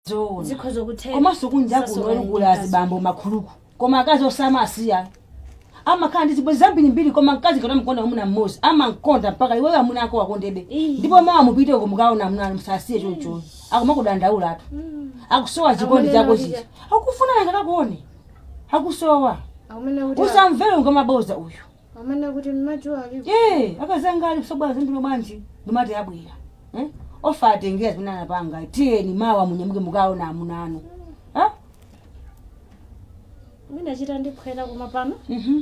zoona Zikhoza kutheka. komanso kunja kuno Sasokani kugula mkazi. azibambo makhuluku koma akazi osamawasiya amakhala ndi zibwenzi zambirimbiri koma mkazi ngati amkonda mwamuna mmodzi amankonda mpaka iwe amuna ako akondebe Ii. ndipo mawa mupiteko mukaone amuna anu musasiye choncho akumakudandaula ati akusowa chikondi Amanena zako kuti- zija akufuna nanga kakuone akusowa Akumene kuti usamvere ngwamabodza uyu Amanena kuti mmadzi walipo. Eee akazi anga sabwela zambilo bwanji ndimati abwela ee pofuna atengele zimene anapanga tiyeni mawa munyamuke mukaone amuna anu ah Munachita ndi phwete koma pano. mhm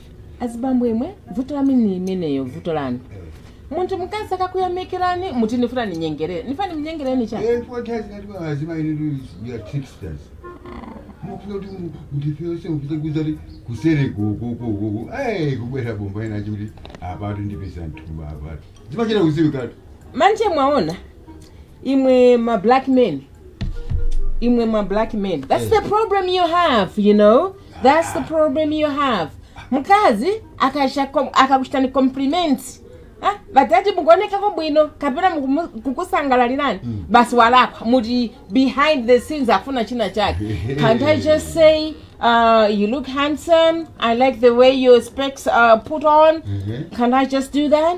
azibambo imwe vuto lanu ndi limenelo vuto lanu munthu mkazi akakuyamikirani muti nifuna ninyengerere nifuna nimunyengereni chani Eh, what has that one as my little you are tricksters. Mufuna kuti mu- mutipeze mupite kuseri kuseri kukukukuku ai kubwera bomba ina chikuti apatu ndipisa mthumba apatu zimachita kudziwikatu manje mwaona imwe ma black men imwe ma black men that's the problem you have you know that's the problem you have mkazi akasha kom- akakuchitani compliment ah, batati mukuonekako bwino kapena mukumu- kukusangalalirani basi walakwa muti behind the scenes afuna china chake can't i just say uh, you look handsome i like the way your specs are put on can't i just do that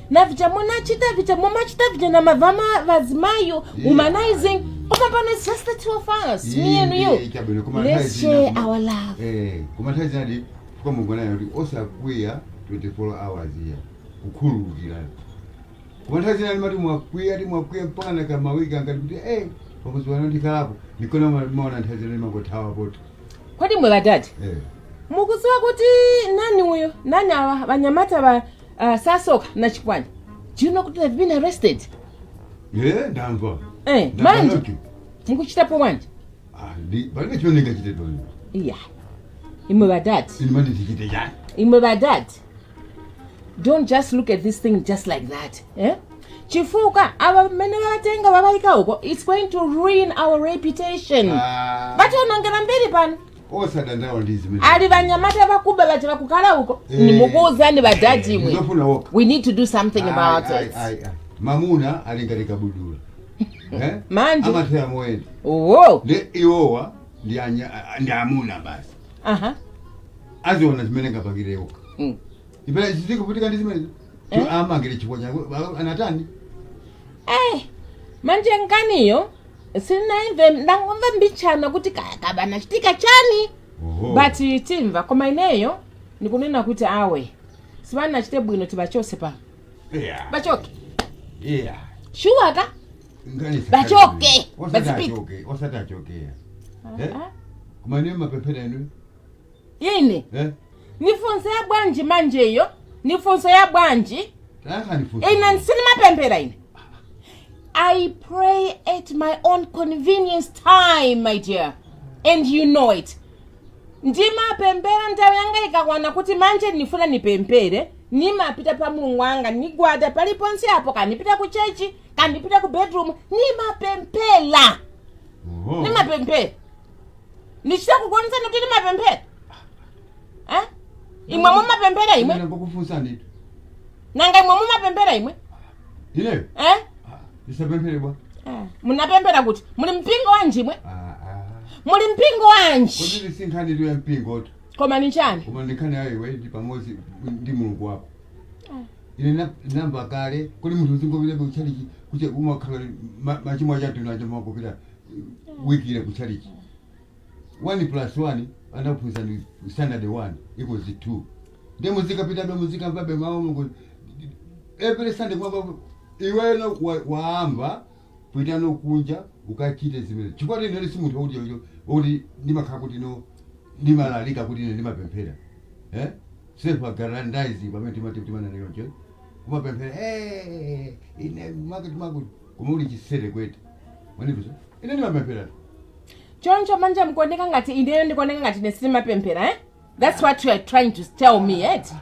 na vija munachita vija mumachita vija na mavama vazimayo humanizing koma pano it's just the two of us me and you chabwino koma nthawi let's zina share kuma- our love eh, koma nthawi zina ndi kungonena kuti osakwiya 24 hours iyai kukhululukirana koma nthawi zina ndimati mwakwiya mwakwiya mpaka na kamawiki angati kuti eh pakuziwana ndikhalapo ndikuona maona nthawi zina ndimangothawa poti kodi imwe badadi eh. mukuziwa kuti nani uyo nani awa vanyamata va Uh, Sasoka na Chikwani, do you know kuti they've been arrested? Eh, ndamva. Eh, Ndamva manje. mukuchitapo bwanji? Ah, ndi- palibe chimene ndingachite toni. Iya. Imwe badadi, Ine manje ndichite chani? imwe badadi. Don't just look at this thing just like that. Eh? Chifukwa aba bamene batenga babaika uko, it's going to ruin our reputation. Ah. Batonongera mbiri pano. osadandaula ndi zimene ali vanyamata vakuba vaja vakukhala uko Eh. nimukuuzani badadi imwe we need to do something about it Ai, ai, ai, ai. mamuna ali ngati kabudula Eh? Manje. amathera moyenda owo ndi iwowa ndi anya- a- ndi amuna basi aha aziona zimene angapangire okha Mm. chizikuvutika ndi zimene Eh? amangidwira chifukwa chake anatani eh manje nkaniyo sinaimve ndangomva mbichana kuti kaya kaba nachitika chani Oho. but tamva koma ineyo ndikunena kuti awe sibana achite bwino tibachose pa Yeah. bachoke Yeah. shuwa ka Ngati sasa- Bachoke. Osati Bazipite. achoke, osati achoke. Eh? Ah, Kumane mapepera enu. Ine? Eh? Ni funso ya bwanji manje iyo? Ni funso ya bwanji? Tayakhani funso. Ine nsinimapemphera ine. I pray at my own convenience time, my dear. And you know it. ndimapemphera nthawi yanga ikakwana kuti manje ndifuna ndipemphere ndimapita pa mulungu wanga ndigwada paliponse apo kandipita ku chechi kandipita ku bedroom ndimapemphera Oh. ndimapemphera ndichita kukuonetsani kuti ndimapemphera Eh? imwe mumapemphera imwe Ine ngokufunsa ndithu nanga imwe mumapemphera imwe ineyo Eh? ndisapemphere bwa Eh, munapemphera kuti muli mpingo wanji imwe Ah, ah. muli mpingo wanji kodi si nkhani ya mpingo tu koma ni chani koma ndi nkhani ya iwe ndi pamodzi ndi mulungu wako ine na- namba kale kodi munthu uzingopitabe kuchalichi kuche umakhala ma- machimo achatu nanga umapita wikile ku chalichi 1 plus 1 anakuphunzitsani standard 1 equals 2 ndiye muzikapitabe muzikamvabe mawu a mulungu every sunday kumamva iweno wa- waamva pita kunja ukachite zimene chifukwa kuti inene si munthu wakuti chocho kuti ndimakhala kuti no ndimalalika kuti ine ndimapemphera eh? self aggrandizing pamene timati timanena choncho kumapemphera "Eh, ine makuti makuti koma uli chisere kwete mwanimvetsa ine ndimapemphera choncho manje nkuoneka ngati ineyo ndikuoneka ngati ine sindimapemphera eh? that's what you are trying to tell me eti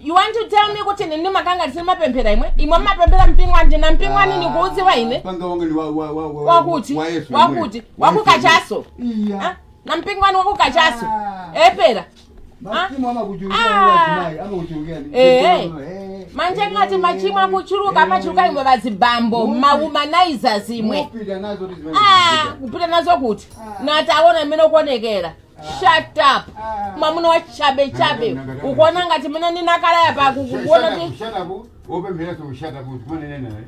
you want to tell me kuti ine ndimakhala ngati sindimapemphera imwe imwe mmapemphera mpingo wanji na mpingo wanu nikuudziwa ine mpingo wanga ni wa- wa- wa- wa- wakuti wa Yesu wakuti yemweyo. Wa Yesu wakukachaso yemweyo. Iya. Ah, na mpingo wanu wakukachaso Ah. epera Machimo amakuchuluka Ah. mwa azimayi, amakuchuluka. Eh, eh. manje ngati machimo akuchuluka amachuluka imwe vazibambo mawomanizers imwe Mupita nazo kuti zimene Ah, zikuchita. kupita nazo kuti ntaona mmene ukuonekera shut up mwamuna wa chabe chabe ukuona ngati mmene ndinakalaya pa kukuona Shut up, open maso shut up, zimene nena.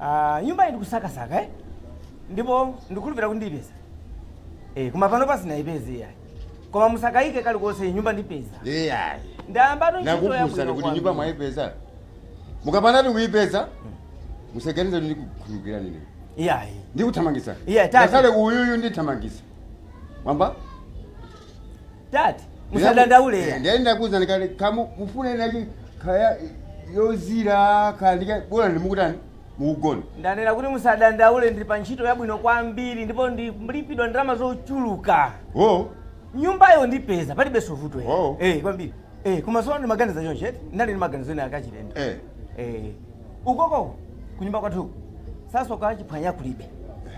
Ah, nyumbayi ndikusakasaka eh? ndipo ndikhulupirira kuti ndiyipeza eh, koma panopa sindinayipeze iyayi koma musakayike kalikonse nyumba ndipeza iyayi ndayambatu ntchito nakufunsani yabwino kuti kwambiri. nyumba mwayipeza mukapanda kuyipeza musaganize kuti ndikukhulukira nini iyayi ndikuthamangisa Iye, tati. ngakhale uyuyu ndithamangisa mwamva Tati, musadandaule Eh, ya. ndiye ndakuuzani kale kamu mufunenayi kaya yozira kaya ndikabola ndimukutani mukugona Ndanena kuti musadandaule ndili pa ntchito yabwino kwambiri ndipo ndilipidwa ndalama zochuluka. oh Nyumbayo ndipeza palibenso vuto. Oh. Eh, kwambiri. Eh, komanso ndimaganiza choncho eti ndinali ndi maganizo ena akachilendo Eh. eh, ukoko kunyumba kwathu sasoka chiphwanya kulibe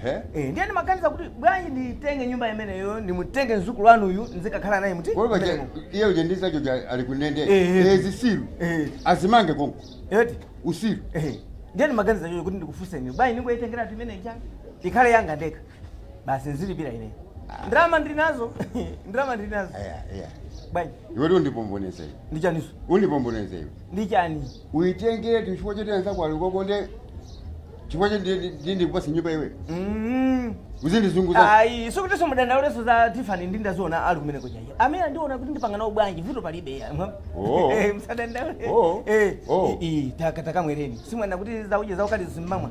Ehe. eh, ndiye ndimaganiza kuti bwanji nditenge nyumba imeneyo ndimutenge mzukulu wanuyu ndizikakhala naye muti Kodi paja mmenemo. iye uja ndi zacho ja ali kundende. Eh, eh. Eh, zisiru. Eh. Azimange konko. eti Usiru. eh, ndiye ndimaganiza choncho kuti ndikufunseni bwanji ndingoyitengeratu imeneija ikhale yanga ndekha basi nzilipira ine ndalama ndili nazo ndalama ndili nazo Aya, aya. bwanji Iwetu undipomboneze. ndi chaniso Undipomboneze iwe. ndi chani Uitengeretu chifukwa choti anzako ali koko nde chifukwa choti ndi- ndi ndikupasa nyumba iwe. Mm. Uzindizunguza. ayi sikutinso mudandaulenso za tifani ndi ndaziona ali kumene kuchayi amene andiona kuti ndipanga nawo bwanji vuto palibe ya mwa- Oh. Eh, musadandaule Oh. Eh, Oh. i- i, taka- takamwereni simwana kuti zauje zaukali simmamwa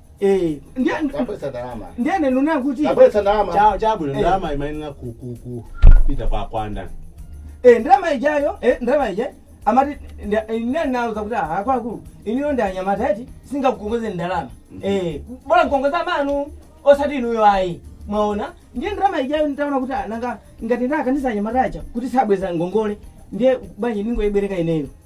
Eh, ndiye Tabweza ndalama. ndiye ndikunena kuti Tabweza ndalama. Cha- chabwino Eh. ndalama imayenera ku- ku- ku- kupita kwa kwa ndani eh ndalama ijayo eh ndalama ija amati nda- eh, ndiye nauza kuti ah akuluakulu inuyo ndi anyamata eti singakukongoze ndalama eh bola nkongoza amanu osati inuyo ayi mwaona ndiye ndalama ijayo nditaona kuti ah, nanga ngati ndakaniza anyamata aja kuti sabweza ngongole ndiye bwanji ndingoibwereka ineyo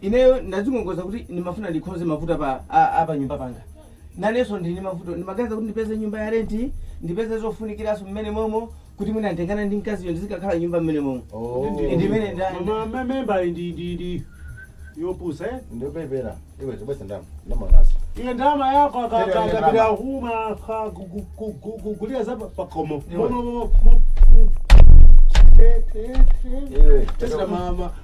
Ineyo ndadzikongoza kuti ndimafuna ndikonze mavuto apa a a panyumba panga. Nanenso ndili ndi mavuto. Ndimaganiza kuti ndipeze nyumba ya renti, ndipeze zofunikiranso mmene momo kuti mwina nditengane ndi mkaziyo ndizikakhala m'nyumba mmene momo. Ndi imene nda- nda- Mama me- member iyi ndi ndi ndi yopusa eh? ndopepera iwe tabweza ndama ndamamasa Iye ndama yako Tete akakata wenye bila ndama. umaka gu- gu- gu- gu- gu- gulira za pa- pakhomo. Iwe. Momo momo. momo. Eh, eh, eh. iwe Tesla mama.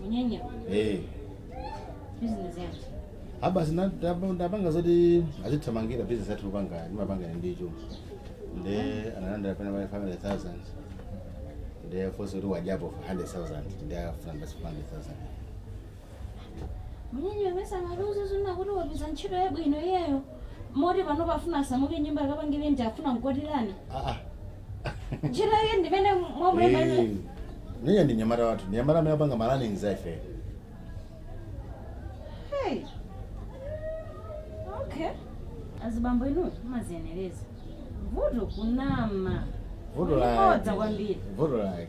Munyanya eh business yanji. a basi ndapanga zoti azithamangira business yathu kupanga ndimapanga ndicho nde analandira pena pa 500000 nde afunsa kuti wadyapo 100000 nde afuna basi 500000 Munyanya mesa maluzo zina kuti wapeza ntchito yabwino iyeyo. Moti panopa afuna asamuke nyumba akapange renti afuna nkwatirana. aa ntchito yake ndimene mwamulemba Eh, Ndiye ndi nyamata wathu, ndi nyamata amene apanga ma running za ife. Hey. Okay. Azibambo inu mumaziyenereza. Vuto kunama. Vuto Kuli bodza lake. kwambiri. Vuto lake.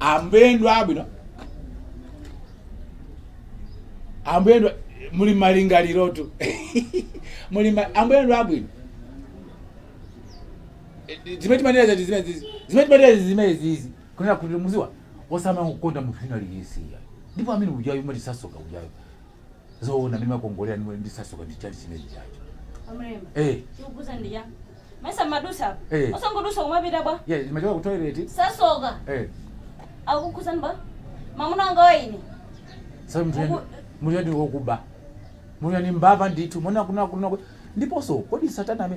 ambuye ndi abwino ambuye ndi muli malingalirotu muli ma- ambuye ndi abwino Eh, zimene timanena zati zimene zizi zimene timanena zizi zimene zizi kunena kuti muziwa osamala kukonda munthu wina aliyense ndipo amene ujayo umati sasoka ujayo Zoona ndimakongolera ndi ndi sasoka ndi chali chimene chacho. Amrema. Eh. Chikukuza ndi ya. Mesa mwadutsa apa. Eh. Osangodutsa kumapita bwa. Yeah, ndimachoka ku toilet. Sasoka. Eh. Akukuza ndi bwa. Mamuna wanga wa ine. Sasa mtu Mungu- mtu ndi wokuba. Mtu ndi mbava ndithu. Mwana kuna kuna ndiponso kodi satana ame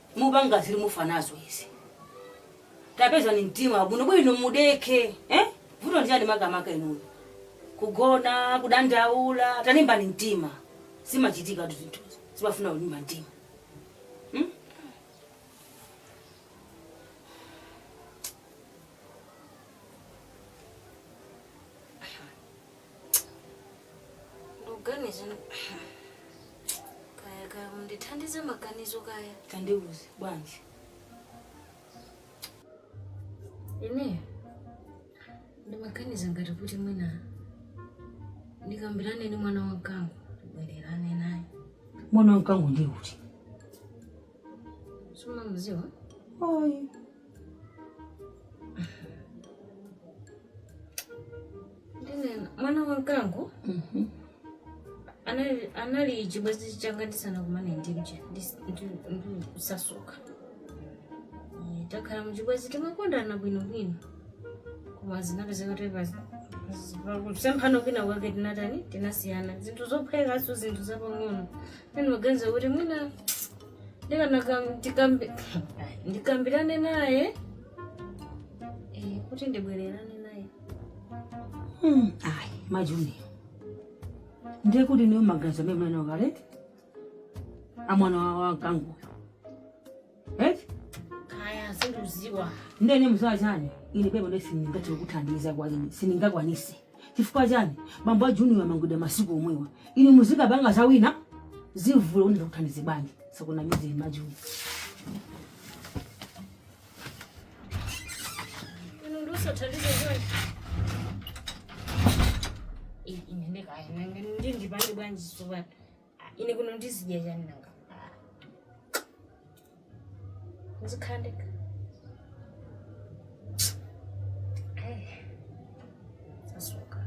mupanga zili mufa nazo izi tapezani mtima bwino bwino mudekhe eh? vuto ndi chani makamaka inuyo kugona kudandaula talimbani mtima zimachitikatu zinthu zimafuna kulimba mtima hmm? ndikuganiza kaya kaya undithandize maganizo kaya tandiuze bwanji ine ndimaganiza ngati kuti mwina ndikambirane ndi mwana wa mkango ndibwererane naye mwana wa mkango ndi uti sumamuziwa oyi Ndinena, mwana wa mkango Mhm. anali anali chibwenzi changa ndisanakumane ndi uja ndis- ndi- ndi- kusasuka Eh, takhala muchibwenzi timakondana bwinobwino koma zinapezeka kuti tasemphana kwina kwake tinatani tinasiyana zinthu zophwekaso zinthu zapang'ono ine ndimaganiza kuti mwina ndikanakam- tikambi- Ai, ndikambirane naye Eh, kuti ndibwererane naye Mm, ayi majuni ndiye kuti inuyo maganizo amene mwana wakaleti amwana wa- wa mkangoyo eti kaya sindikuziwa ndene mziwa chani ine pepo nde sindingathe kukuthandiza kwa ine sindingakwanise Chifukwa chani bambo a Junior amangidwa masiku omwewa? Inu muzikapanga za wina zivuta kuti ndikuthandize bwanji? Sakunamizeni ma Junior. Inu ndi usathandize chonde. Ine kaya ndi ndipange bwanji tsopano. ine kuno ndizidya chani nanga ndizikhala ndekha Eh, sasuka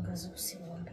ngazi kusikombe